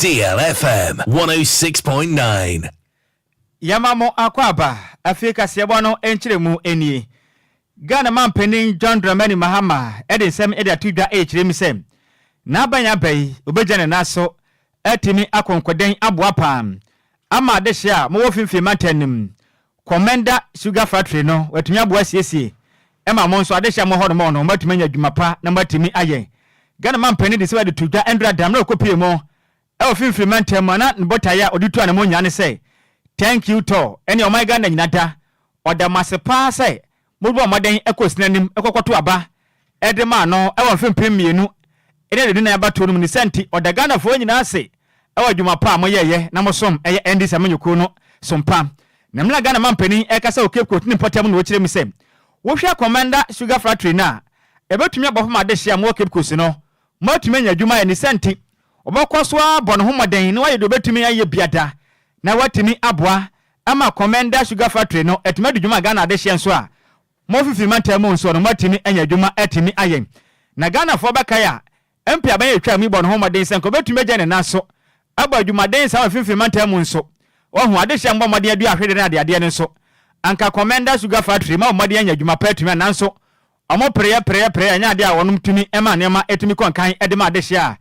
DLFM 106.9. Yɛma mo akwaaba afie kaseɛbɔ no nkyerɛmu nie. Ghana manpanin John Dramani Mahama de nsɛm de ato dwa rekyerɛ mu sɛ n'aban aba yi obegya ne nan so atumi akonkoden aboa paa ama adehye a mowɔ finfin mantam no mu Komenda Sugar Factory no, wɔatumi aboa asiesie ma mo nso adehye a mowɔ hɔ no, mo no, moatumi anya adwuma pa na moatumi ayɛ. Ghana mampanin de sika de too dwa Ndura da mmerɛ a ɔkɔpuee mo wɔ Finfiri mantam mu a na ne botaeɛ a ɔde tu anamɔn nyinaa ne sɛ, Thank you Tɔ ɛnneɛ ɔman Ghana nyina da, ɔda mo ase paa sɛ Mobɔɔ mmɔden kɔɔ sini anim kɔkɔtoo aba de maa no wɔ mfe mpem mmienu ne aduonu-nan abatoɔ no mu. Ne saa nti, ɔda Ghanafoɔ nyinaa ase wɔ adwuma pa a moyɛeɛ na mosom yɛ NDC amanyɔkuo no so mpa. Na me na Ghana mampanin rekasa wɔ Cape Coast ne mpɔtam na wɔkyerɛ mu sɛ wohwɛ Komenda Sugar Fractory no a, ɛbɛtumi abɔ fam adehye a mowɔ Cape Coast no, moatumi anya adwuma ayɛ. Ne saa nti, wɔbɛkɔ so abɔ ne ho mmɔden na wayɛ deɛ ɔbɛtumi ayɛ biada na watumi aboa ɛma Komenda Sugar Factory no atumi adi dwuma a Ghana de hyɛ nso a, mo fifiri mantam mu nso no moatumi anya adwuma atumi ayɛ. Na Ghanafoɔ bɛkae a MP Abanya a ɛtwaa mu yi bɔɔ ne ho mmɔden sɛ nka ɔbɛtumi agya ne nan so abɔ adwumaden saa wɔ mfimfini mantam mu nso. Wahu, adehyɛ mmɔ mmɔden adua ahwedeɛ ne adeadeɛ no nso. Anka Komenda Sugar Factory ma wɔn mmɔden anya adwuma pa atumi a nanso wɔn pereɛ pereɛ pereɛ anyɛ adeɛ a wɔnom tumi ma nneɛma tumi kɔ nkan de ma adehyɛ a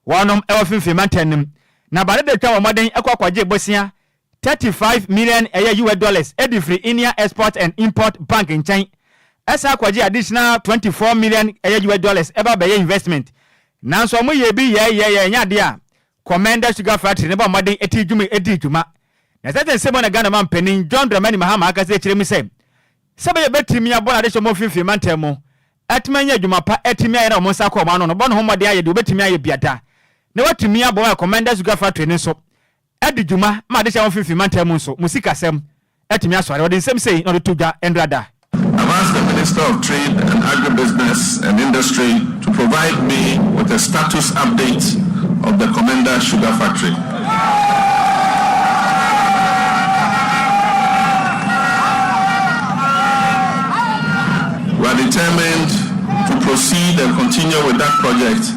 wɔnom wɔ mfimfini mantam no mu. Na Bada da twa wɔn mmɔden kɔ kɔgye bosea Thirty five million ɛyɛ US dollars de firi India Export and Import Bank nkyɛn ɛsan kɔgye additional twenty four million ɛyɛ US dollars ɛba bɛyɛ investment nanso ɔmo yɛɛ bi yɛɛ yɛɛ yɛɛ ɛnyɛ adeɛ a Commenda Sugar Factory no bɔ mmɔden tii dwuma dii dwuma na sɛte nsɛm na Ghana Ɔman Panin John Dramani Mahama akasa kyerɛ mu sɛ sɛ bɛyɛ bɛtumi abɔ n'adehyeɛ ɔmo mfinfini mantam mu atumi anya adwuma pa atumi ayɛ na ɔmo nsa kɔ ɔmo ano no bɔ ne ho mmɔden ayɛ deɛ ɔbɛtumi ayɛ biada na watumi aboa Commenda Sugar Factory no nso Ɛde dwuma ma adehye a ɛwɔ mfimfini mantam mu nso, mo sikasɛm atumi asɔre. Wɔde nsɛm sei na wɔde to dwa nnora da. I've asked the Minister of Trade and Agribusiness and Industry to provide me with a status update of the Komenda Sugar Factory. We are determined to proceed and continue with that project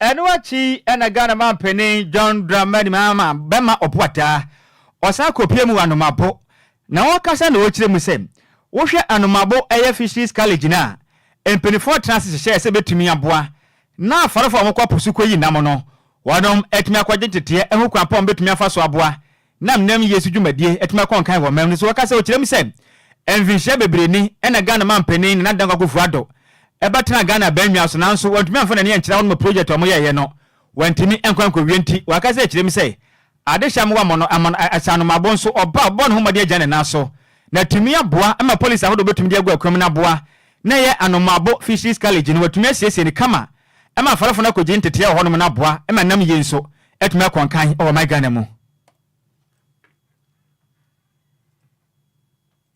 Ɛno akyi na Ghana manpanin John Dramani Mahama bɛma ɔpoataa, ɔsan kɔpue mu wɔ Anomabo, na ɔkasa na ɔkyerɛ mu sɛ, wohwɛ Anomabo ɛyɛ Fisheries College no a, mpaninfoɔ tena ase hyehyɛɛ sɛ bɛtumi aboa na afarefoɔ a wɔkɔ po so kɔyi nam no, wɔnom atumi akɔgye nteteɛ ho kwan pa a wɔbɛtumi afa so aboa Nam nnam yie so dwumadie atumi akɔ nkan wɔ mɛm no so wɔ kasa ɔkyerɛ mu sɛ mfinhyia bebree ni ɛna Ghana manpanin Nana Dankwa Akufo Addo ɛba tenaa Ghana abannwa so nanso wantumi amfa n'ani ankyerɛ hɔ nom project a wɔn yɛɛyɛ no wantumi ankɔ ankowie nti wakasa akyerɛ mu sɛ ade hyɛ amoa mono amono ahyɛ anomabo nso ɔba ɔbɔ ne ho mmɔden agya ne nan so na atumi aboa ma policy ahodoɔ bɛtumi de agu akwam na aboa na ɛyɛ Anomabo Fisheries College no watumi asiesie no kama Ɛma afɔrefo no kogye ntetee wɔ hɔnom na aboa ma nam yie nso atumi akɔ nkan wɔ ɔman Ghana mu.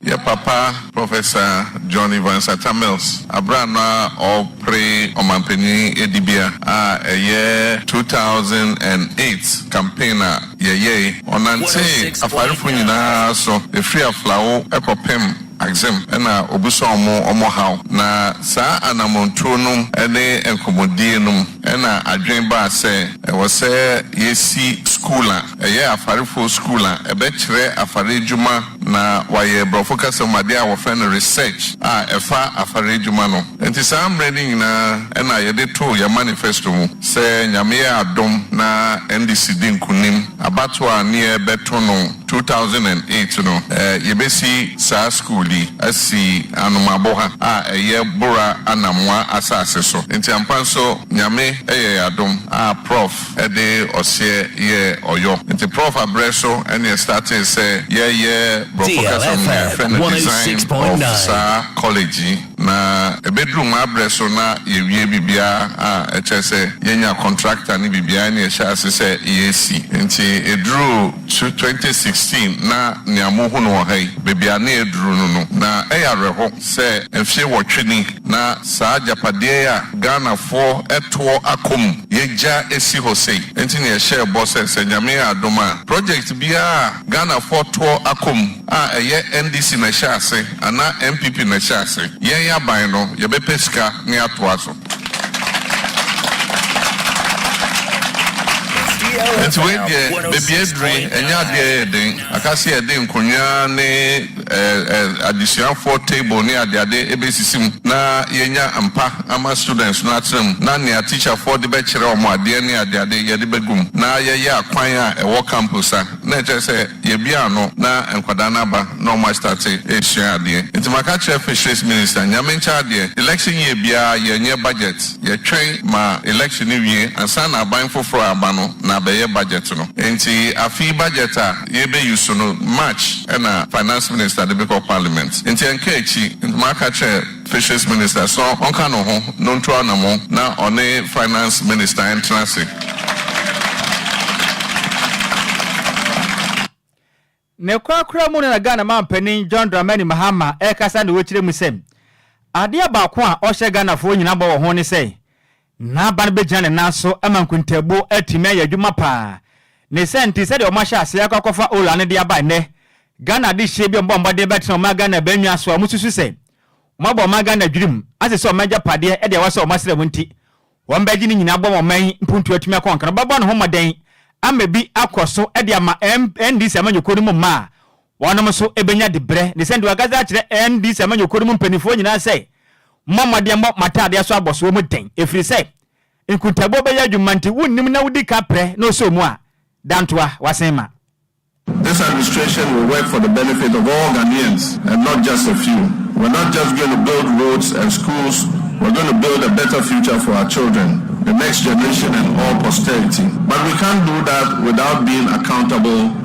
Yɛ papa Professor John Evans Atta Mills aberɛ a na ɔrepre ɔmanpanin adibea a ɛyɛ two thousand and eight campaign a yɛyɛe. Ɔnantee afarefo nyinaa so ɛfiri Aflao kɔpem Axim na obusa ɔmo ɔmo haw. Na saa anamɔntuo nom ne nkɔmɔdie nom na adwen baa sɛ ɛwɔ sɛ yɛsi skuul a ɛyɛ afarefoɔ skuul a ɛbɛkyerɛ afare adwuma na wayɛ brɔfo kasa mu adeɛ a wɔfrɛ no research a ɛfa afare adwuma no. Nti saa mmerɛ no nyinaa na yɛde too yɛn manifesto mu sɛ Nyame yɛ adom na NDC di nkunim abatoɔ a ne yɛɛbɛto no. two thousand and eight no, yɛbɛsi saa sukuu yi asi Anomaboha a ɛyɛ Bora Anamwa asase so. Nti ampa nso Nyame yɛ yɛn adom a Prɔf de ɔseɛ yɛɛ ɔyɔ. Nti Prɔf aberɛ so ne yɛ startee sɛ yɛyɛ, borɔfo kasa mu no yɛfrɛ no design of saa college yi. Na ɛbɛduru Mabrɛ so na yɛawie biribiara a, ɛkyerɛ sɛ yɛanya kɔntractor ne biribiara na yɛhyɛ ase sɛ yɛresi. Enti ɛduruu tw twenty sixteen na nea mohunu wɔ ha yi, baabi a na yɛaduru no no, na ɛyɛ awerɛho sɛ mfeɛ nwɔtwe ni na saa agyapadeɛ yi a Ghanafoɔ toɔ akɔ mu yɛagya asi hɔ sei. Enti na yɛhyɛɛ bɔ sɛ, sɛ Nyame yɛ adom a, project biara a Ghanafoɔ toɔ akɔm a ɛyɛ NDC na ɛhyɛ ase anaa NPP na ɛhyɛ ase, yɛn aban no yɛbɛpɛ sika na yɛatoa so. Nti wei deɛ baabi aduru yi ɛnyɛ adeɛ a ɛyɛ den, aka sɛ yɛde nkonnwa ne. adesuafoɔ table ne adeade bɛsisi mu na yɛanya mpa ama students no atena mu na nea teacherfoɔ de bɛkyerɛ wɔn adeɛ ne adeade yɛde bɛgu mu na yɛyɛ akwan a ɛwɔ campus a na ɛkyerɛ sɛ yɛabue ano na nkwadaa no aba na wɔn astate resua adeɛ. Nti maka kyerɛ Fisheries Minister, Nyame nkyɛ adeɛ, election year biara yɛnyɛ budget, yɛtwɛn ma election no wie ansa na aban foforɔ a aba no na abɛyɛ budget no. Nti afe yi budget a. yɛbɛ use no March na finance minister de bɛkɔ parliament nti ɛnka akyi nti maka kyerɛ fisheries minister sɛ ɔnka ne ho na ɔntu anamɔn na ɔne finance minister ntena ase. Ne korakora mu no na Ghana manpanin John Dramani Mahama ɛrekasa na ɔrekyerɛ mu sɛ adeɛ baako a ɔhyɛ Ghanafoɔ nyinaa bɔ wɔ ho ne sɛ N'aban bɛgyina ne nan so ama nkontaabuo atumi ayɛ adwuma pa ara. Ne saa nti, sɛdeɛ wɔahyɛ aseɛ akɔ akɔfa Ola no de aba nnɛ, Ghana adehyeɛ bi a wɔbɔ mmɔden bɛtena ɔman Ghana bɛn nwa so a wɔsusu sɛ wɔabɔ ɔman Ghana adwenem ase sɛ ɔman agyapadeɛ de ɛwɔ sɛ wɔsra mu nti, wɔbɛgye ne nyinaa abɔ ma ɔman yi mpuntuo atumi akɔ nka no. Wɔbɛbɔ ne ho mmɔden ama bi akɔ so de ama NDC amanyɔkuo no mu mmaa a Wɔnom nso bɛnya dibrɛ. Ne sɛ nti wakasa akyerɛ NDC amanyɔkuo no mu mpaninfoɔ nyinaa sɛ, Mommɔ mmɔden mmɔ mo ataadeɛ so abɔsoɔ mu den, ɛfiri sɛ nkuntaboɔ bɛyɛ adwuma nti wonnim na wodi ka prɛ na ɔsɔ mu a, dantoa, wasen ma. This administration will work for the benefit of all Ghanaians and not just a few. We're not just going to build roads and schools, we're going to build a better future for our children, the next generation and all posterity. But we can't do that without being accountable.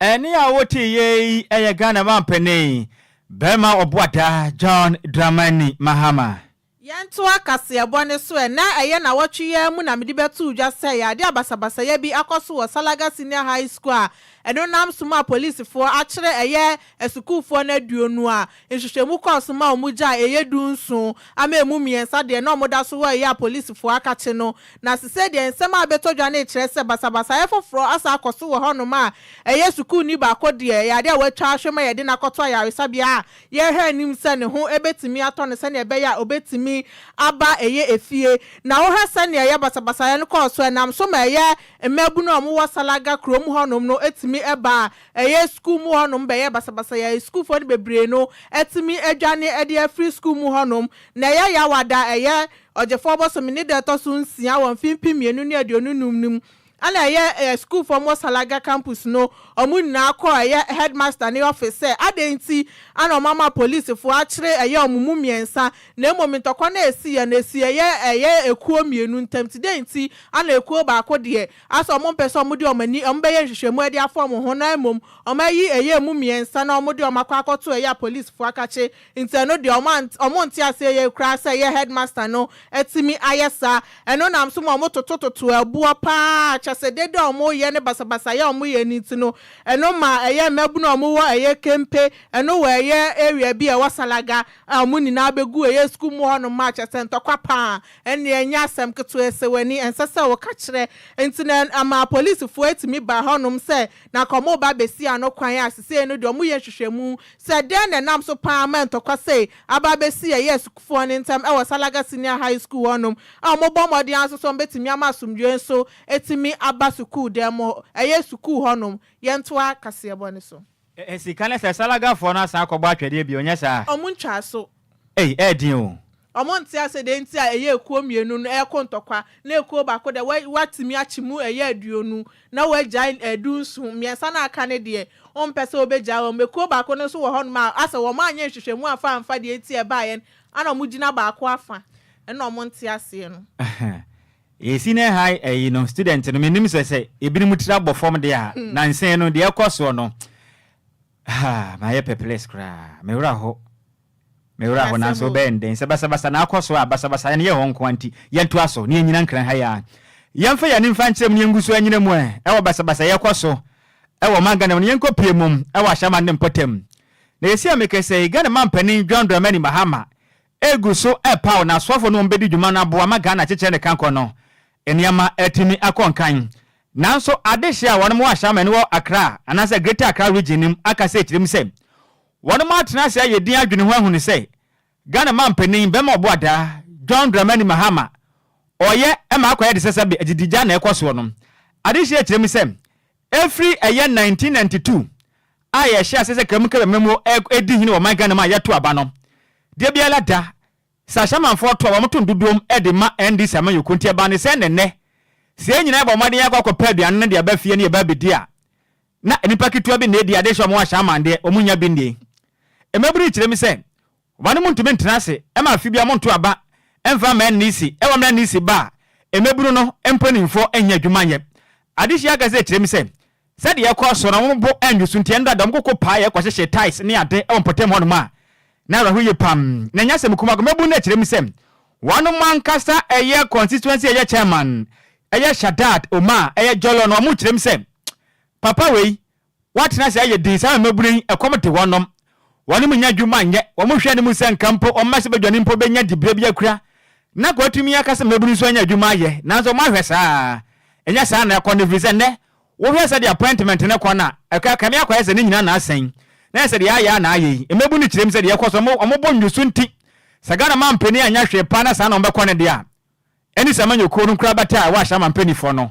Ɛnne a woteeɛ yi yɛ Ghana mampanin barima ɔboadaa John Dramani Mahama. Yɛntoa kaseɛbɔ no so ɛ. Ná ɛyɛ nnawɔtwe yi ara mu na mede bɛtoo dwa sɛ yadeɛ a basabasayɛ bi akɔ so wɔ Salaga Senior High School a ɛno nam so mu a polisifoɔ akyere ɛyɛ asukuufoɔ no aduonu a Nhwehwɛmu kɔɔ so ma wɔgyaa a ɛyɛ du nson ama ɛmu mmiɛnsa deɛ na wɔda so wɔ ɛyɛ a polisifoɔ akakye no. Na sesei deɛ nsɛm a abɛtɔ dwa no rekyerɛ sɛ basabasayɛ foforɔ asan akɔ so wɔ hɔnom a ɛyɛ sukuuni baako deɛ ɛyɛ adeɛ a wɔatwa ahwɛ ma yɛde no akɔto ayaresabea a yɛrehwɛ anim sɛ ne ho bɛtumi atɔ no sɛdeɛ ɛbɛyɛ a ɔbɛtumi aba ɛyɛ efie. Na wohwɛ sɛdeɛ ɛyɛ basabasayɛ no kɔɔ so ɛnam so ma ɛyɛ mmaabunu a wɔwɔ Salaga kurom hɔnom no tumi ba a Ɛyɛ sukuu mu hɔnom bɛyɛ basabasa yi a sukuufoɔ no bebree no atumi adwane de afiri sukuu mu hɔnom. Na ɛyɛ yaw a da a ɛyɛ Ɔgyefoɔ bosome ne da a ɛtɔ so nsia wɔ mfe mpem mmienu ne aduonu nnum no mu na ɛyɛ a sukuufoɔ wɔ Salaga campus no wɔn nyinaa kɔ ɛyɛ headmaster no office sɛ adɛn nti na wɔama polisifoɔ akyere ɛyɛ wɔn mu mmiɛnsa na mmom ntɔkwa no a ɛsiiɛ no ɛsii ɛyɛ ɛyɛ ekuo mmienu ntam nti dɛn nti na ekuo baako deɛ Asa wɔn mpɛ sɛ wɔde wɔn ani wɔn bɛyɛ nhwehwɛmu ɛde afɔn wɔn ho na mmom wɔn ayi ɛyɛ emu mmiɛnsa na wɔde wɔn akɔ akɔto ɛyɛ a polisfoɔ akakye nti ɛno deɛ wɔn ant wɔn nte aseɛ yie koraa sɛ ɛyɛ headmaster no atumi ayɛ saa ɛno nam so ma wɔn toto toto ɛboɔ paa kyɛsɛ dede a wɔn yɛ ne basabasayɛ a wɔn yɛ no nti no ɛno ma ɛyɛ mmabunu a wɔn wɔ ɛyɛ kempe ɛno wɔ ɛyɛ area bi a ɛwɔ salaga a wɔn nyinaa bɛgu ɛyɛ sukuu mu hɔ nom ma kyɛsɛ ntɔkwa paa Ɛnneɛ ɛnyɛ asɛm ketewa sɛ w'ani ɛnsɛ sɛ woka kyerɛ. Enti na ama apolisifoɔ atumi ba hɔnom sɛ na anka wɔreba abɛsi ano kwan a seesei no deɛ wɔyɛ nhwehwɛmu sɛ dɛn na ɛnam so pa ara ma ntɔkwa sei aba abɛsi ɛyɛɛ sukuufoɔ no ntam wɔ Salaga Senior High School hɔnom a wɔbɔ mmɔden ara nso sɛ wɔbɛtumi ama asomdwoeɛ nso atumi aba sukuudan mu ɛyɛ sukuu hɔnom. Yɛntoa kaseɛbɔ no so. Ɛɛ sika ne sɛ salaga foɔ no asan akɔbɔ atwɛdeɛ bio nyɛ saa? Ɔmo ntwaa so. Ei ɛyɛ den oo. Ɔmo nte ase dɛn nti a ɛyɛ ekuo mmienu no ɛɛko ntɔkwa na ekuo baako deɛ wɛ watumi akye mu ɛyɛ aduonu na wagyae ɛɛ du nson, mmiɛnsa no a aka no deɛ ɔmpɛ sɛ ɔbɛgyae wɔn, ekuo baako no nso wɔ hɔnom a asɛ wɔn anyɛ nhwehwɛmu amfa amfa deɛ nti a ɛbaeɛ no ana ɔmo gyina baako afa, ɛna ɔmo nte aseɛ no. Ahaa Yɛ senior high ɛyi no student no me nim sɛ sɛ ebinom tiri abɔ fam deɛ a nansa yi no deɛ ɛkɔ soɔ no haa mayɛ pɛplɛs koraa me werɛ aho me werɛ aho nanso wo bɛyɛ no dɛn sɛ basabasa na akɔ soɔ a basabasa ɛno yɛ hɔ nkoa nti yɛn to aso ne yɛn nyina nkran ha yi a yɛn fa yɛn ani nfa nkyerɛ mu ne yɛn gu so anyina mu ɛ ɛwɔ basabasa yɛ kɔ so ɛwɔ ɔman Ghana mu no yɛn kɔ pie mu ɛwɔ ahyɛman ne mpɔtam na yɛ si a me kɛsɛ Ghana man panin John Dramani Mahama Egu so repaw n'asɔfo no a wɔbedi dwuma no aboa ma Ghana kyekyɛ ne kankɔ no nneɛma atumi akɔ nkan. Nanso adehye a wɔn wɔ Ashaiman no wɔ Accra anaasɛ Greater Accra Region no mu akasa akyerɛ mu sɛ wɔn atena ase ayɛ din adwene ho ahu no sɛ Ghana manpanin bɛma ɔbo adaa John Dramani Mahama ɔyɛ ma akɔyɛ de sɛsɛbe agyidi gya na ɛkɔ soɔ no. Adehye akyerɛ mu sɛ Ɛfiri ɛyɛ 1992 a yɛhyɛɛ aseɛ sɛ Kramu Kɛbɛ Mmamu redi hene wɔ ɔman Ghana mu a yɛto aba no, deɛ biara da sɛ ahyɛmanfoɔ to a wɔto no dodoom de ma NDC amanyɔkuo nti ɛbaa ne sɛn na ɛnnɛ sɛ yɛn nyinaa bɔ mmɔden akɔ akɔpɛ aduane no de aba fie ne yɛba abɛdi a na nnipa ketewa bi na ɛdi ade hyɛ wɔn ahyɛ amandeɛ wɔn nnya bi nnie. Mmabunu yi kyerɛ mu sɛ Ɔba no muntumi ntena ase ma afe biara monto aba mfa mma Nisi wɔ mmerɛ a Nisi ba a mmabunu no mpanimfoɔ nnya adwuma nyɛ. Adesua kasa kyerɛ mu sɛ sɛdeɛ ɛkɔɔ so no wɔn bo annwo so nti ɛno dada wɔn koko paeɛ kɔhyehyee tiles ne ade wɔ mpɔtam hɔ nom a na awerɛho yie pam. Na ɛnyɛ asɛm kumaa mmabunu no kyerɛ mu sɛ wɔnom ankasa ɛyɛ constituency ɛyɛ chairman ɛyɛ Shadad Omar ɛyɛ Jollo no wɔn kyerɛ mu sɛ papa wei Wɔatena ase ayɛ dinn saa mmabunu yi, ɛkɔm de wɔnom, wɔnom nnya adwuma nyɛ, wɔhwɛ anim sɛ nka mpo wɔn mma sɛ badwani mpo bɛnya dibea bi akura, na nka wɔatumi aka sɛ mmabunu nso anya adwuma ayɛ, nanso moahwɛ saa a, ɛnyɛ saa na ɛkɔ no, ɛfiri sɛ nnɛ, wohwɛ sɛdeɛ appointment no kɔ no a, ɛkɔ, ɛkame akɔyɛ sɛ ne nyinaa na asɛn, na ɛyɛ sɛ deɛ ayɛ ara na ayɛ yi, mmabunu kyerɛ mu sɛ deɛ ɛkɔ so, wɔn, wɔn bo nnwo so nti, sɛ Ghana mampanin anyɛ hwee paa na saa na wɔbɛkɔ no deɛ a, ɛne sɛ amanyɔkuo no nkorabata a ɛwɔ Ahyɛama Mpaninfoɔ no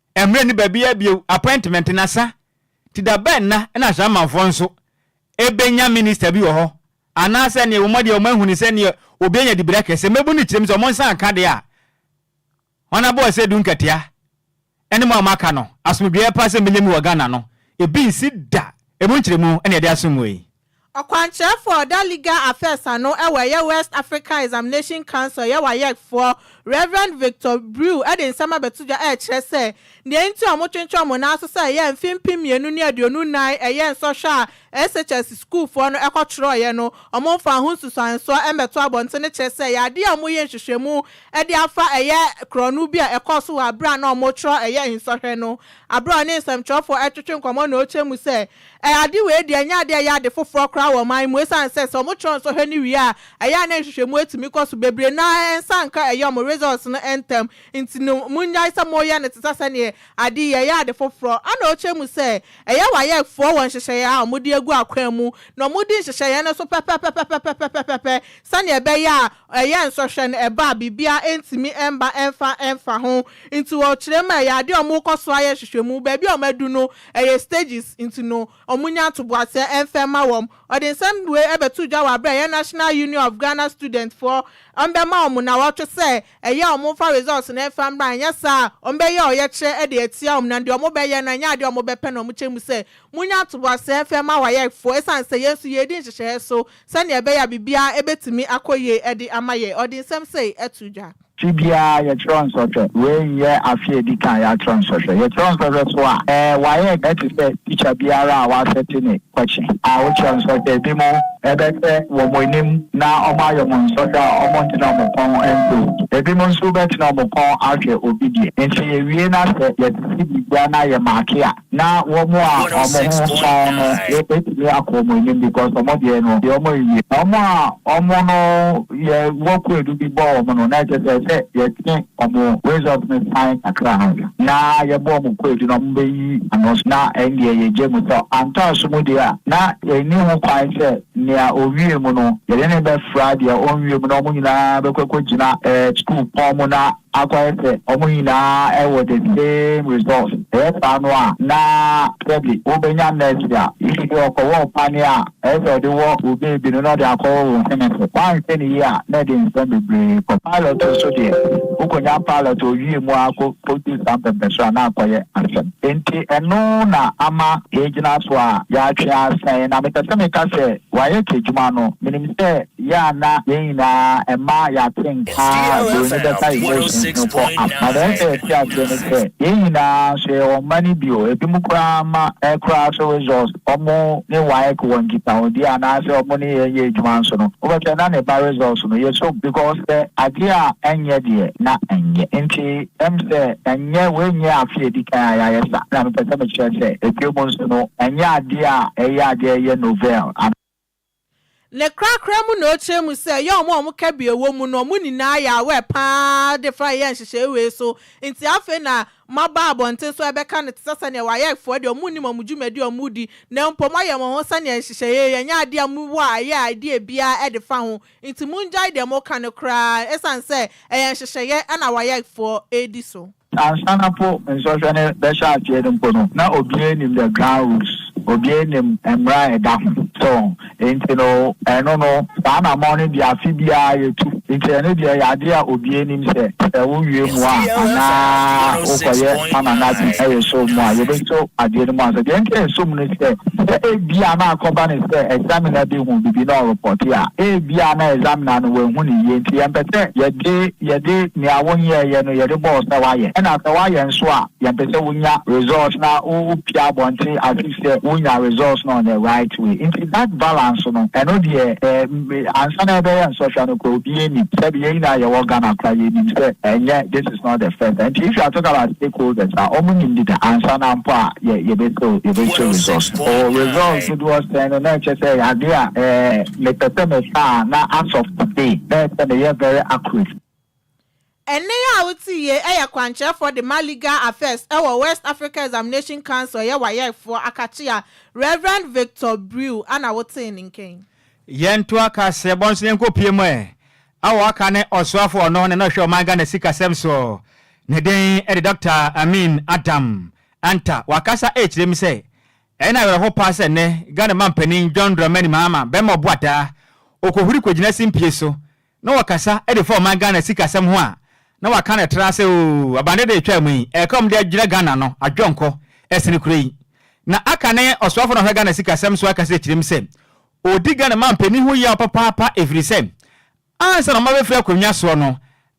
Ɛmmerɛ ne baabiara bio appointment na sa nti da bɛn na na Ashamanfoɔ nso bɛnya minister bi wɔ hɔ anaa sɛ neɛ wɔn deɛ wɔn ahuni sɛ neɛ obi anya dibira kɛse mmabu no kyerɛm sɛ wɔn nsa nka deɛ a Honourable Ɔsɛdu Nkatia ɛne mo a mo aka no asomdwoeɛ paa sɛ mmɛnya mu wɔ Ghana no ebi nsi da ɛmu nkyerɛmu na yɛde asom mo yi. Ɔkwankyerɛfo a ɔda Legal Affairs ano wɔ ɛyɛ West African Examination Council yɛ WAEC foɔ, Rev. Victor Brew de nsɛm abɛto dwa rekyerɛ sɛ nea enti a wɔtwentwɛn wɔn nan ase sɛ ɛyɛ mfe mpem mmienu ne aduonu nnan ɛyɛ nsɔhwɛ a SHS sukuufoɔ no kɔtwerɛeɛ no wɔmfaa ho nsunsuansoɔ mmɛto abɔntene kyerɛ sɛ ɛyɛ adeɛ a wɔyɛ nhwehwɛmu de afa ɛyɛ korɔno bi a ɛkɔɔ so wɔ berɛ a na wɔretwerɛ ɛyɛ nsɔhwɛ no. Berɛ a ɔne nsɛmtwerɛfoɔ retwetwe nkɔmmɔ na ɔrekyerɛ mu sɛ Ɛ, ade wei deɛ, ɛnyɛ adeɛ a ɛyɛ ade foforɔ koraa wɔ ɔman yi mu, esiane sɛ, sɛ wɔtwerɛ nsɔhwɛ no wie a, ɛyɛ a na nhwehwɛmu atumi kɔ so bebree na ɛnsan nka ɛyɛ wɔn results no ntɛm. Nti no, monnyae sɛ moreyɛ no te sɛ sɛdeɛ ade yi, ɛyɛ ade foforɔ. Ɛna ɔkyerɛ mu sɛ, ɛyɛ wayɛfoɔ wɔ nhyehyɛeɛ a wɔde agu akwan mu, na wɔdi nhyehyɛeɛ no so pɛpɛpɛpɛpɛpɛpɛpɛpɛ, sɛdeɛ ɛbɛyɛ a, ɛyɛ nsɔhwɛ no ɛba a, biribiara ntumi mma ɛmfa mfa ho. Nti wɔ kyerɛmu a, ɛyɛ adeɛ a wɔkɔ so ayɛ nhwehwɛmu, baabi a wɔadu no, Ɛyɛ stages nti no ɔmo nya ntoboaseɛ ɛnfɛ ma wɔn. Ɔde nsɛm wei ɛbɛtoo dwa wɔ aberɛ a ɛyɛ National Union of Ghana Students foɔ ɛmbɛma ɔmo nawɔtwe sɛ ɛyɛ a ɔmo nfa results no ɛnfa mmra anyɛ saa a ɔmo bɛyɛ ɔyɛkyerɛ ɛde atia ɔmo na deɛ ɔmo bɛyɛ no ɛnyɛ adeɛ a ɔmo bɛpɛ na ɔmo kyɛ mu sɛ monya ntoboaseɛ ɛnfɛ mma WAEC foɔ ɛsiane sɛ yɛn nso yɛredi nhyehyɛeɛ so sɛdeɛ ɛbɛyɛ a biribiara ɛbɛtumi akɔ yie ɛde ama yɛn. Ɔde nsɛm sei ɛtoo dwa. Afe biara yɛkyerɛw nsɔhwɛ. Wei nyɛ afe a edi kan a yɛakyerɛw nsɔhwɛ. Yɛkyerɛw nsɔhwɛ so a, wɔayɛ te sɛ tikya biara a wɔasɛte ne pɔkye a wokyerɛw nsɔhwɛ. Ebinom bɛhwɛ wɔn anim na wɔayɛ wɔn nsɔhwɛ a wɔntena wɔn kɔn nso. Ebinom nso bɛtena wɔn kɔn ahwɛ obi deɛ. Enti yɛwie na sɛ yɛtete biribiara na yɛmaake a, Na wɔn a wɔn ho pɔn no betumi akɔ wɔn anim because wɔn deɛ no deɛ wɔn nwie. Wɔn a wɔn no yɛ wɔ kwaadu bi bɔ wɔn no na ɛkyɛ sɛ sɛ yɛtwe wɔn result no san kakra na yɛbɔ wɔn kwaadu na wɔn bɛyi ano so na ɛndeɛ yɛgye mu sɛ antɔ aso mu deɛ a na ɛnni ho kwan sɛ nea ɔwie mu no yɛde no bɛfra deɛ ɔnwie mu na wɔn nyinaa bɛkɔ akɔgyina ɛɛ sukuu pɔn mu na akɔyɛ sɛ wɔn nyinaa wɔ the same resource, ɛyɛ saa no a na sɛbe wobɛnya mercy a if bi ɔkɔwɔ ɔpane a ɛyɛ sɛ ɔde wɔ wo baby no na ɔde akɔwɔ wo hene so, woanhwɛ no yie a na ɛde nsɛm bebree kɔ. Pilot nso deɛ wokɔnya pilot a ɔwie mu ara kɔ kɔduu saa mpɛmpɛso a na akɔyɛ asɛm. Enti ɛno na ama yɛagyina so a yɛatwe asɛn na mepɛ sɛ meka sɛ wɔayɛ k'adwuma no menim sɛ Yɛ a na yɛn nyinaa ɛmma yɛate nka a buroni bɛka emotions no kɔ am. Na nea ɛsɛ yɛte aseɛ ne sɛ, yɛn nyinaa nso yɛwɔ mma no bi o. Ebinom koraa mma ɛ koraa nso results ɔmo ne waec wɔ nkitahodie anaasɛ ɔmo ne yɛn yɛ adwuma nso no wobɛhwɛ na ne ba results no yɛ som because sɛ adeɛ a ɛnyɛ deɛ na ɛnyɛ nti ɛm sɛ ɛnyɛ wei nyɛ afe a ɛdi kan a yɛayɛ sa na mepɛ sɛ mekyerɛ sɛ ɛbio mu nso no ɛnyɛ adeɛ a ɛyɛ adeɛ ɛyɛ novel anaa. Ne korakora mu na ɔkyerɛ mu sɛ ɛyɛ wɔn a wɔn kabea wɔ mu no, wɔn nyinaa yɛ aware pa ara de fa yɛɛ nhyehyɛe wei so, nti afei na maba abɔnten so rebɛka no te sɛ sɛnea wayɛfoɔ deɛ wɔn nnim wɔn dwumadi a wɔn redi, na mmom wɔayɛ wɔn ho sɛnea nhyehyɛe yi ɛnyɛ adeɛ a mo wɔ a ɛyɛ idea biara de fa ho, nti mongyae deɛ moreka no koraa, ɛsiane sɛ ɛyɛ nhyehyɛeɛ na wayɛfoɔ redi so. Ansa na po nsɔhwɛ no bɛhyɛ aseɛ no mpo no, na obiara nnim the ground rules, obiara nnim mmara a ɛda ho. So enti no ɛno no saa anammɔn no deɛ afe biara yɛtu. Enti ɛno deɛ ɛyɛ adeɛ a obiara nim sɛ sɛ wowie mu a anaa wokɔyɛ summer no ade yɛ so mu a yɛbɛso adeɛ no mu ansa. Deɛ nti a ɛso mu no sɛ, sɛ ebia na akɔba no sɛ examiner bi hu biribi na ɔrepɔte a, ebia na examiner no wanhu no yie nti yɛmpɛ sɛ yɛde Yɛde nea wonyɛeɛ no yɛde bɔ wo sɛ woayɛ ɛna sɛ woayɛ nso a yɛmpɛ sɛ wonya results na wopia abɔnten as if sɛ wonya results no on the right way nti that balance no ɛno deɛ eh ansa na yɛbɛyɛ nsɔhwɛ no koraa obiara nim sɛbi yɛn nyinaa yɛwɔ Ghana koraa yɛnim sɛ ɛnyɛ this is not the first time nti if you are talking about stakeholders a wɔn nim deda ansa na mpo a yɛ yɛbɛsɛ yɛbɛsɛ results no oh results dodoɔ sɛn no na ɛkyɛ sɛ ɛyɛ adeɛ a eh Mepɛ sɛ me saa a na asɔfo de bɛyɛ sɛ meyɛ very accurate. Ɛnne yi a wote yi yɛ kwankyerɛfoɔ de ma Legal Affairs wɔ West Africa Examination Council yɛ WAEC foɔ akakyea Rev. Victor Brew ana wotee ne nka yi. Yɛn to aka sɛ bɔ nso yɛnkɔ pie mu ɛ. A ɔaka ne ɔsoafo ɔno na na ɔhwɛ ɔman Ghana sika sɛm soɔ. Ne den de Doctor Amin Adam Antah. Wakasa ɛkyerɛ mu sɛ Ɛyɛ no awerɛhow paa sɛ nnɛ Ghana Manpanin John Dramani Mahama bɛma ɔbo ataa, okohuri kogyina simpie so na ɔkasa de fa ɔman Ghana sikasɛm ho a, na waka no tra sɛ oo, abandede a etwaa mu yi, ɛyɛ ka a wɔde agyina Ghana ano, adwɔnkɔ, ɛsen kura yi. Na aka ne ɔsoafo no a ɔhwɛ Ghana sikasɛm so akasa akyiri mu sɛ, odi Ghana Manpanin ho yaw papaapa efiri sɛ, Ansa na wɔabɛfiri akonnwa soɔ no,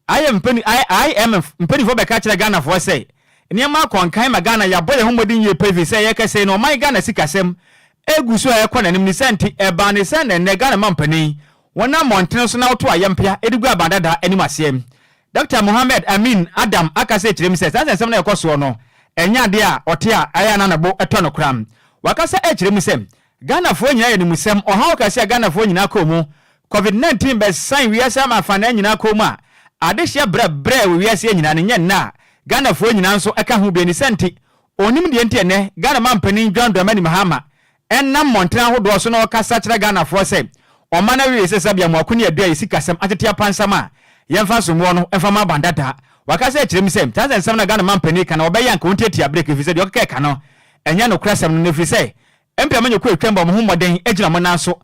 IMF mpanimfoɔ bɛka kyerɛɛ Ghanafoɔ sɛ, Nneɛma akɔ nkan ma Ghana, yɛabɔ yɛn ho mmɔden yie paa ɛfiri sɛ ɛyɛ kɛse no, ɔman Ghana sikasɛm gu so a ɛrekɔ n'anim ne saa nti, ɛbaa ne sɛ na ɛnnɛ Ghana mampanin wɔnam mmɔntene so na wɔto ayɛmpea de gu aban dada anim aseɛ. Dɔkta Mohammed Amin Adam aka sɛ kyerɛ mu sɛ saa nsɛnsɛm no a ɛkɔ soɔ no ɛnyɛ adeɛ a ɔte a ɛyɛ a na ne bo tɔ no koraa. Wakasa kyerɛ mu sɛ Ghanafoɔ nyinaa yɛ no mu sɛm, ɔhaw kɛse a Ghanafoɔ nyinaa kɔɔ mu, Covid 19 bɛsan wiase ama afanaa nyinaa kɔɔ mu a adehyeɛ brɛ brɛɛ wɔ wiaseɛ nyinaa no nyɛ nnɛ a Ghanafoɔ nyinaa nso ka ho bie ne sɛ nti ɔnnim deɛ nti ɛnnɛ Ghana mampanin John Dramani Mahama ɛnam mmɔntene ahodoɔ so na ɔrekasa akyerɛ Ghanafoɔ sɛ ɔmma no awie sɛ sabea moako ne adua yɛ sikasɛm atete apansam a yɛmfa nsom woɔ no mfa mma aban dada wakasa akyerɛ mu sɛ saa nsɛnsɛm no a Ghana mampanin reka no ɔbɛyɛ anka ɔntiatia berɛ ɛfiri sɛ deɛ ɔkeka reka no ɛnyɛ nokorɛsɛm no na ɛfiri sɛ Mbia menye kɔ etwa mu bɔ moho mbɔden gyina mo nan so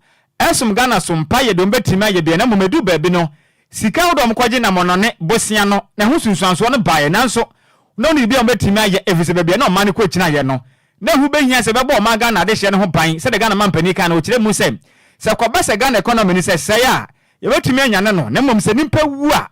som Ghana so. Mpaayɛ de wɔbɛtumi ayɛ bia na mmom ɛduu baabi no sika ahodoɔ a wɔkɔgye nam ɔnɔne bosea no na ɛho sunsuansoɔ no baeɛ nanso na ɔno de bia wɔbɛtumi ayɛ ɛfiri sɛ baabi a na ɔman no kɔgyinaeɛ no na ɛho bɛhia sɛ ɛbɛbɔ ɔman Ghana adehyeɛ no ho ban sɛdeɛ Ghana manpanin kae no ɔkyerɛ mu sɛ sɛ ɛkɔba sɛ Ghana economy no sɛ ɛsɛe a yɛbɛtumi anyane no na mmom sɛ nipa wu a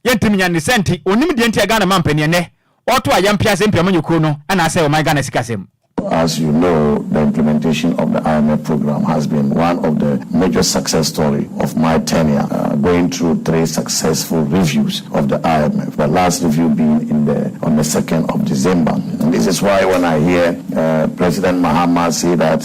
Yɛntim nya ne sɛ nti ɔnnim deɛ nti a Ghana mampanin ɛnnɛ ɔɔto a yɛmpea sɛ mpiamu nyɛ kuro no anaasɛ ɔman Ghana sikasɛm. As you know, the implementation of the IMF program has been one of the major success story of my tenure, going through three successful reviews of the IMF, the last review being in the on the second of December. This is why when I hear President Mahama say that,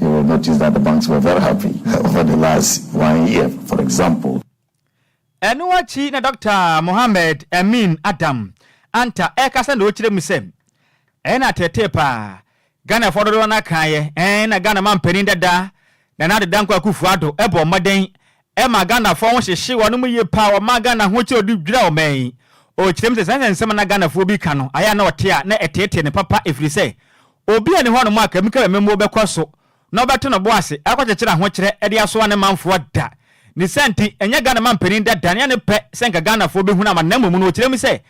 You will notice that the banks were very happy over the last one year, for example. Ɛno akyi na Dɔkta Mohammed Amin Adam Anta ɛrekasa na ɔrekyerɛ mu sɛ, Ɛyɛ na ateetee paa. Ghanafoɔ dodoɔ no ara kaeɛ, ɛɛn na Ghana manpanin dada, Nana Ade Dankwa Akufo-Addo bɔɔ mmɔden Ɛma Ghanafoɔ ho hyehye wɔn mu yie paa, wɔma Ghana ho kyɛ ɔde dwira ɔman yi. Ɔkyerɛ mu sɛ saa nsɛm a na Ghanafoɔ bi ka no, ayɛ a na ɔte a na ɛteetee no papa ɛfiri sɛ obi nni hɔnom a Kebmka Bememmuo bɛkɔ so na ɔbɛto no bo ase akɔkyekyere ahokyerɛ de asoa ne manfoɔ da. Ne saa nti, ɛnyɛ Ghana manpanin dada ne ne pɛ sɛ anka Ghanafoɔ bɛhunu amane na mmom no ɔkyerɛ mu sɛ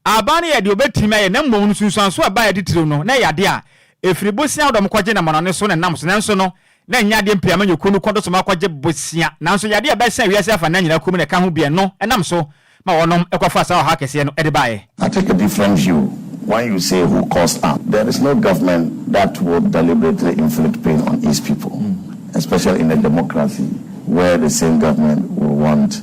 aban no yɛɛ deɛ ɔbɛtumi ayɛ na mmom no nsunsuansoɔ a ɛbaeɛ titiriw no na ɛyɛ adeɛ a ɛfiri bosea a wɔde wɔn kɔgye nam amanɔne so na ɛnam so nanso no na ɛnyɛ adeɛ mpo a ɛma nnwokuo no kɔn do soma kɔgye bosea, nanso yadeɛ a ɛbɛsɛe wiase afanan nyinaa komm na ɛka ho biara no nam so ma wɔnom kɔfaa saa ɔhaw kɛseɛ no de baeɛ. I take a different view when you say who caused am, there is no government that would deliberately inflict pain on its people, especially in a democracy where the same government will want.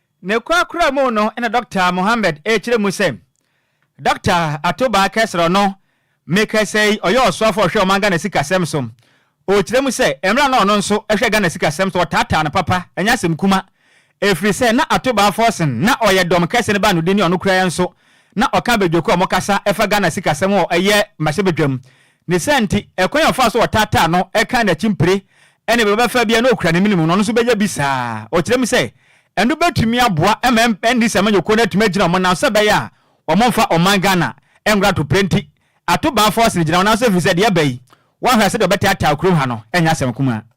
Ne korakora mu no na Dɔkta Mohammed rekyerɛ mu sɛ, Dɔkta Atubaa Kɛsrɔ no, mekasa yi, ɔyɛ ɔsoafo a ɔhwɛ ɔman Ghana sikasɛm so. Ɔrekyerɛ mu sɛ, mmerɛ a na ɔno nso hwɛ Ghana sikasɛm so, wɔtaataa no papa, ɛnyɛ asɛm kuma. Ɛfiri sɛ, na Atubaa Forson, na ɔyɛ dɔm kɛse no baanodini, ɔno koraa nso, na ɔka Bɛdwoko a wɔkasa fa Ghana sikasɛm ho wɔ ɛyɛ mmarahyɛbadwam. Ne saa nti, ɛkwan a ɔfaa so ɔtaataa no kaa n'akyi mpire ne bɛ bɛfa bi a na okura ne mene mu no, ɔno nso bɛyɛ bi saa ara. Ɔkyerɛ mu sɛ, ɛno bɛtumi aboa ma NDC amanyɔkuo no atumi agyina wɔn nan sɛ ɛbɛyɛ a wɔmmfa ɔman Ghana nnkɔ atopere nti ato baa force no gyina wɔn nan so ɛfiri sɛ deɛ aba yi, woanhwɛ a sɛdeɛ wɔbɛtaataa kurom ha no, ɛnyɛ asɛm kumaa.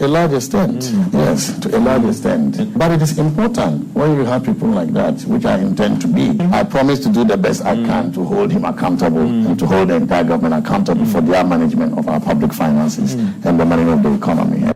A large extent, yes, to a large extent, but it is important when you have people like that, which I intend to be, I promise to do the best I can to hold him accountable and to hold the entire government accountable for their management of our public finances and the management of the economy.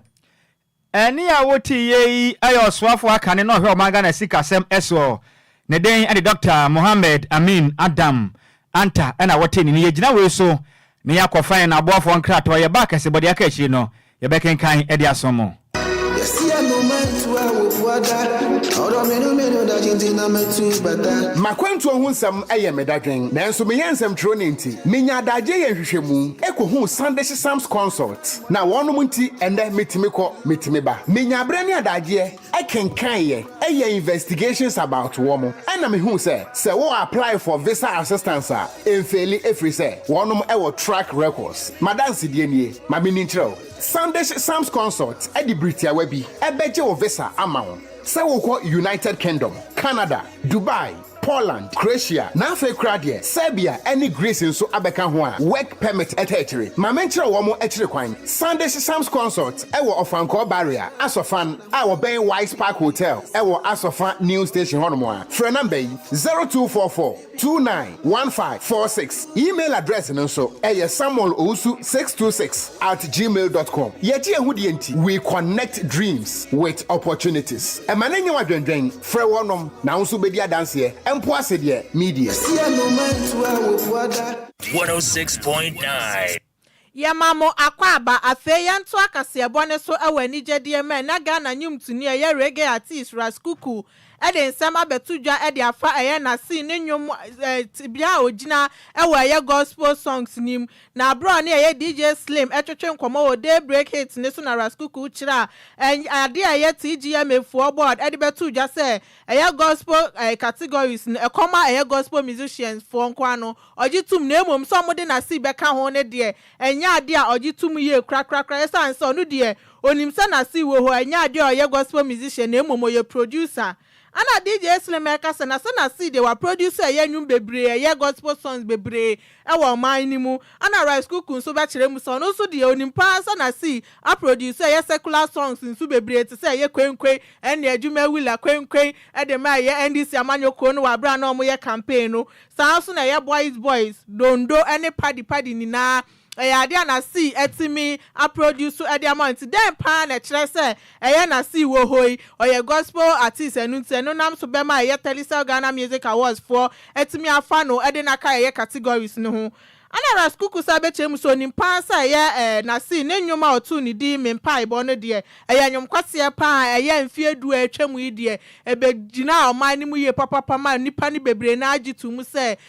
Ɛnne a wotiiɛ yi yɛ ɔsoafoɔ akane na ɔhwɛ ɔman Ghana sikasɛm soɔ. Ne den de Dɔkta Mohammed Amin Adam Anta na wɔtee ne nne. Yɛgyina wei so na yɛakɔ fan na aboafoɔ nkratoɔ yɛba akɛsebɔdeɛ aka akyire no Yɛbɛkenkan de asom mo. Yɛsia no mantu a wɔbu ada. Ɔdɔ me no me no dagye nti na matu bata. M'akwantuo ho nsɛm yɛ me dadwen nanso meyɛ nsɛmtwerɛni nti menya adagyeɛ yɛ nhwehwɛmu kɔhuu Sandish Sams Consult na wɔnom nti ɛnnɛ metumi kɔ, metumi ba. Menya berɛ ne adagyeɛ. kenkan yɛ yɛ investigations about wɔn ɛna me hu sɛ sɛ wo apply for visa assistance a ɛnfeeli ɛfiri sɛ wɔnom wɔ track records madansedie nie ma me ni nkyerɛ wo Sandish Sams Consult de biri tiawa bi bɛgye wo visa ama wo sɛ wokɔ United Kingdom Canada Dubai Poland, Croatia, na afei koraa deɛ Serbia ne Greece nso abɛka ho a work permit taa akyire. Ma menkyerɛ wɔn akyire kwan. Sandish Sams Consort wɔ Ɔfankɔɔ Barrier, Asɔfan, a wɔbɛn Wise Park Hotel wɔ Asɔfa New Station hɔnom a, frɛ number yi, 0244291546. Email address no nso yɛ samuelowusu626 at gmail dot com. Yɛgye yɛn ho die nti, we connect dreams with opportunities. Ɛma no nyɛ wo adwendwen. Frɛ wɔnom na wo nso bɛdi adanseɛ. Ɛmpoa se deɛ meediɛ. Ɛsi anoma ntu a wɔbua da. 106.9. Yɛma mo akwaaba. Afei yɛntoa kaseɛbɔ no so wɔ anigyedie mu ɛnnɛ Ghana nwomtoni a ɛyɛ reggae artiste Ras Kuku de nsɛm abɛto dwa de afa ɛyɛ n'asen ne nnwom tebea a ɔgyina wɔ ɛyɛ gospel songs no mu Na aberɛ a ɔne ɛyɛ DJ Slim twetwe nkɔmmɔ wɔ Daybreak Hits no so na Ras Kuku kyerɛ ɛny adeɛ a ɛyɛ TGMA foɔ board de bɛtoo dwa sɛ ɛyɛ Gospel ɛy categories no ɛkɔm a ɛyɛ Gospel musicians foɔ nko ara no ɔgye tom na mmom sɛ wɔde Nasib bɛka ho no deɛ ɛnyɛ adeɛ a ɔgye tom yie korakorakora ɛsiane sɛ ɔno deɛ ɔnim sɛ Nasib wɔ hɔ ɛnyɛ adeɛ a ɔyɛ Gospel musician na mmom ɔyɛ producer Ana DJ Slim ɛka sɛ nase na Cde wa produce ɛyɛ nwom bebree ɛyɛ gospel songs bebree ɛwɔ ɔman no mu. Ana Rice Kuku nso bɛkyerɛ mu sɛ ɔno nso deɛ onim paa sɛ na Cee a produce ɛyɛ secular songs nso bebree te sɛ ɛyɛ Kwenkwen ɛne Adwuma Willa Kwenkwen ɛde ma ɛyɛ NDC amanyɔkuo no wɔ aberɛ a na wɔyɛ campaign no saa nso na ɛyɛ Boys Boys, Dondo ɛne Paddy Paddy nyinaa ɛyɛ ade a n'asii atumi aproduce de ama no nti, dɛn paa na ɛkyerɛ sɛ ɛyɛ n'asii wɔ hɔ yi? Ɔyɛ gospel artiste, ɛno nti ɛno nam so bɛma ɛyɛ Telecel Ghana Music Awards foɔ atumi afa no de no aka ɛyɛ categories no ho. Ana Ras Kuku san bɛkyerɛ mu sɛ ɔnim paa sɛ ɛyɛ n'asii, ne nnwom a ɔtoo no din Me Mpaebɔ no deɛ, ɛyɛ nnwom kwasea paa a ɛyɛ mfeɛ du a atwam yi deɛ, ɛbɛgyinaa ɔman no mu yie papapa maa nnipa no bebree no ara gye too mu sɛ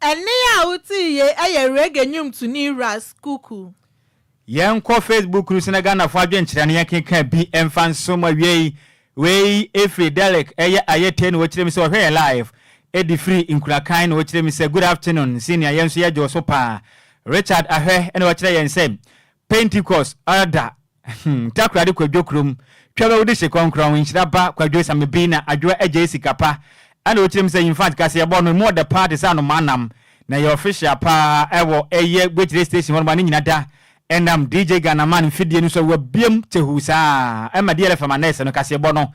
Ɛnne a wotie yei ɛyɛ reggae nnwomtoni Ras Kuku. Yɛnkɔ Facebook no so na Ghanafoɔ adwenkyerɛ no yɛnkenkan bi mfa nsom awiei. Wei firi Derrick, ɛyɛ ayɛ tei na ɔkyerɛ mu sɛ ɔhwɛ yɛn live de firi Nkurakan na ɔkyerɛ mu sɛ Good afternoon senior yɛn nso yɛdwo so paa. Richard Ahwɛ na ɔkyerɛ yɛn sɛ Pentecost Elder Ahem Takoradi Kwadwo kurom Twam awudi hye kɔnkrɔn Nhyira ba Kwadwo Samebi na Adwoa agyae sika pa Ɛna ɔkyerɛ mu sɛ Yinfant kaseɛ bɔ no emu ɔdɛ paa te sɛ anomaa nam Na ɛyɛ official paa ɛwɔ ɛyɛ Gwekyerɛ station hɔnom a ne nyina da Ɛnam DJ Ghanaman mfidie no so a wabiam kyehuu saa Ɛma DLFM anɛɛse no kaseɛ bɔ no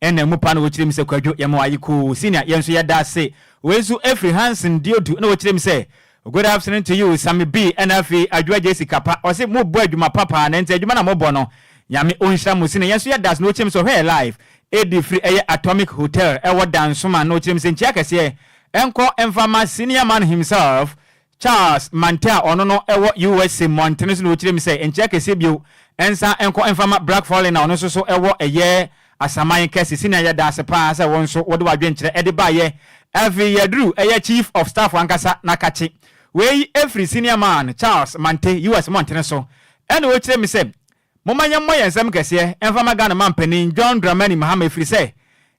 Nna mu paa na wokyerɛ mu sɛ Kwadwo yɛ mo aye koo senior yɛn nso yɛda ase wei nso ɛfiri Hanson Diodu na ɔkyerɛ mu sɛ Good afternoon to you Sammy B ɛna afei Adwoa Gyesi Kapa ɔse mo bɔ adwuma pa paa na nti adwuma na mo bɔ no Nyame ɔnhyira mo senior yɛn nso yɛda ase na ɔkyerɛ mu sɛ ɔhwɛ yɛ live ɛdi firi ɛyɛ Atomic Hotel ɛwɔ Dansoman na ɔkyerɛ mu sɛ nkyia kɛseɛ ɛnkɔ mfa ma senior man himself Charles Manthe a ɔno no wɔ USA mmɔntene so na ɔkyerɛɛ mu sɛ nkyea kɛseɛ bio nsa nkɔ mfa mma Brack Follen a ɔno nso so wɔ ɛyɛ Asaman kɛse senior yɛ daase paa sɛ wo nso wode w'adwenkyerɛ de baeɛ afei yɛduru ɛyɛ Chief of Staff ankasa na kakye wei firi Senior Man Charles Manthe US mmɔntene so ɛna ɔkyerɛɛ mu sɛ Momma yɛmmɔ yɛn nsam kɛseɛ mfa mma Ghana Manpanin John Dramani Mahama ɛfiri sɛ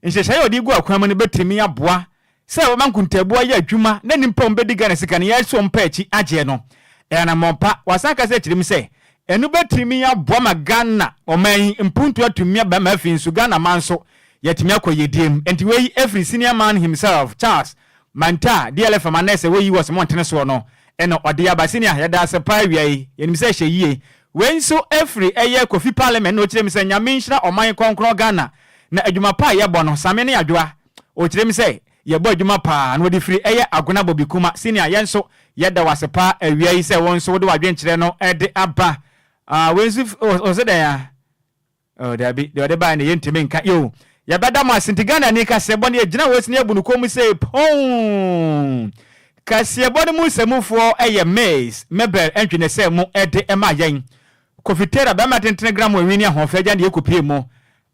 nhyehyɛeɛ a ɔde regu akwan mu no bɛtumi aboa sɛ wɔma nkontaabu ayɛ adwuma na nnipa a wɔbɛdi Ghana sika no yɛn so mpa akyi agyeɛ no yɛ anammɔn pa. Wasan akasa akyerɛ mu sɛ ɛno bɛtumi aboa ma Ghana ɔman yi mpuntuo atumi aba ma afei nso Ghana man nso yɛatumi akɔ yiedie mu. Enti wei firi Senior Man himself Charles Manta a DLF ama nɛɛse wɔ US mo ntene soɔ no na ɔde aba senior yɛda ase paa awia yi yɛnim sɛ ɛhyɛ yie wei nso ɛfiri ɛyɛ Kofi parliament na ɔkyerɛ mu sɛ Nyame nhyira ɔman kɔnkrɔn Ghana na adwuma pa a yɛbɔ no Same ne Adwoa ɔkyerɛ mu sɛ yɛbɔ adwuma paa na ɔde firi ɛyɛ Agona Bobikuma senior yɛn nso yɛda wo ase paa awia yi sɛ wo nso wode w'adwenkyerɛ no de aba ah wei nso ɔsɛ dɛn ah Oh dabi, deɛ ɔde baeɛ no yɛntumi nka yeo. Yɛbɛda mo ase, nti Ghanani kaseɛbɔ no yɛgyina hɔ sini abu no kɔn mu sei ponn. Kaseɛbɔ no mu nsamufoɔ yɛ Miss Mabel Ntwenɛsɛmu de ma yɛn. Kofi Taylor, bɛrima tentene gram wɔ nwini ahoɔfɛ agya deɛ kɔpie mu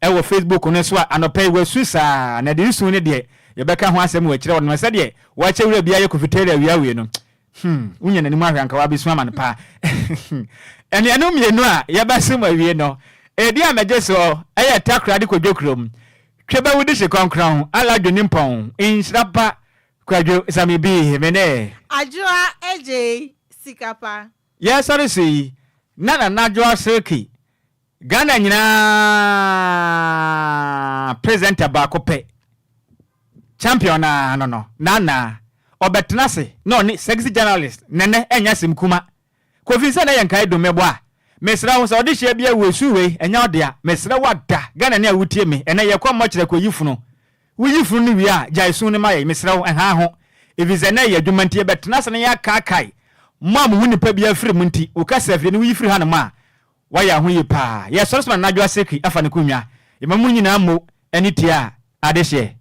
wɔ Facebook no so a anɔpa yi wasu saa na deɛ nsu no deɛ yɛbɛka ho asɛm wɔ akyire hɔ nom na sɛdeɛ wakyɛ wura biara yɛ Kofi Taylor awia awie no Hmm, wonya n'anim ahwɛ anka w'abesu amane paa. Anuanom mmienu a yɛbɛsom awie no, edi a megye so yɛ takra de kɔdwo kurom. Twebɛwu de hye kɔnkrɔn, ala dwene mpɔn, nhyira pa, kwadwo, same bi, me ne. Adwoa gyee sika pa. Yɛresɔre so yi, na Nana Adwoa Silky Ghana nyinaa presenter baako pɛ champion no ara no no Nana ɔbɛtena ase na ɔne sexy journalist Nene ɛnyɛ asem kuma Kofi nsɛ na yɛ nkae dum me boa mesrɛ wo sɛ ɔde hyɛ bia wɔ su wei ɛnyɛ wo dea mesrɛ wo ada Ghana ni a wotie me ɛnɛ yɛ kɔ mmɔkyerɛ kɔ yi funu wo yi funu no wie a gyae su no ma yɛ mesrɛ wo ɛhaa ho efisɛ na ɛyɛ adwuma nti yɛbɛtena ase na yɛakaakae mo a mo ho nipa bia firi mo nti wo kasa fie no woyi firi hanom a Wayɛ aho yie paa. Yɛ sɔre soma nadwo aseki afa ne konnwa. Yɛma mo nyinaa mmo ani tia adehyeɛ.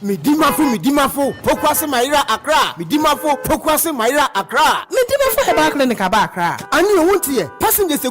Me dimafo me dimafo pokuase mayera Accra me dimafo pokuase mayera Accra. Me dimafo herbal clinic aba Accra. Anio wonte yɛ passengers.